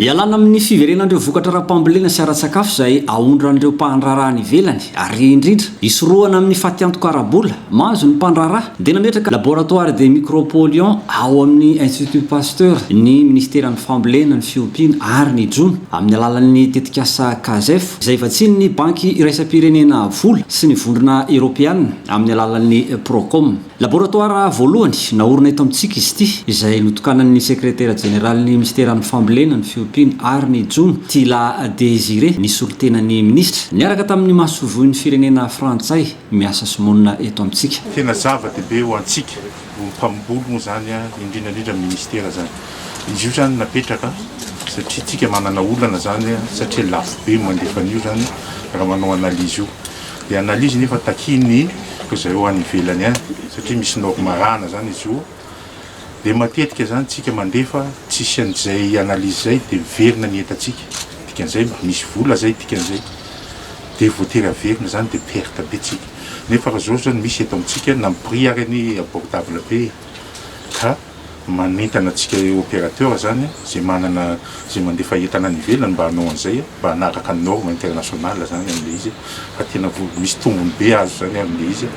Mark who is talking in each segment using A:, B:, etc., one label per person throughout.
A: Ialana amin'ny fiverenan'ireo vokatra ara-pambolena sy ara-tsakafo izay aondran'ireo mpandraharaha any ivelany ary indrindra hisorohana amin'ny fatiantoka ara-bola mahazo ny mpandraharaha dia nametraka Laboratoire des micropolluants ao amin'ny Institut Pasteur ny Minisiteran'ny Fambolena, ny Fiompiana ary ny Jono amin'ny alalan'ny tetikasa CASEF izay vatsian'ny Banky iraisam-pirenena vola sy ny Vondrona Eoropeana. amin'ny alalan'ny Procom. Laboratoara voalohany naorina eto amintsika izy ity, izay notokanan'ny Sekretera Jeneralin'ny Minisiteran'ny Fambolena, ny Fiompiana ary ny Jono, Tila Désiré, nisolo tena ny Minisitra, niaraka tamin'ny Masoivohon'ny Firenena Frantsay miasa sy monina eto amintsika. Tena zava-dehibe
B: ho antsika mpamboly moa izany, indrindra indrindra ny Minisitera izany. Izy io izany napetraka satria isika manana olana izany, satria lafo be ny mandefa an'io izany raha manao analyse io. Ny analyse nefa takian'ny izay ho any ivelany any satria misy norme arahana izany izy io dia matetika izany tsika mandefa tsisy an'izay analyse izay dia miverina ny entantsika dikan'izay mba misy vola izay dikan'izay dia voatery averina izany dia perte be tsika nefa raha izao izao ny misy eto amintsika na ny prix ary anie abordable be ka Manentana antsika opérateur zany izay manana izay mandefa entana any ivelany mba hanao an'izay mba hanaraka ny norme international zany amin'ilay izy fa tena vola misy tombony be azo zany amin'ilay izy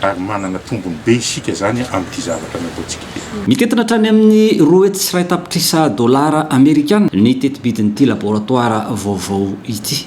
B: ary manana tombony be isika zany amin'ity zavatra nataontsika ity. Mitentina hatrany amin'ny
A: roa hetsy sy iray tapitrisa dolara amerikana ny tetibidin'ity laboratoire vaovao ity.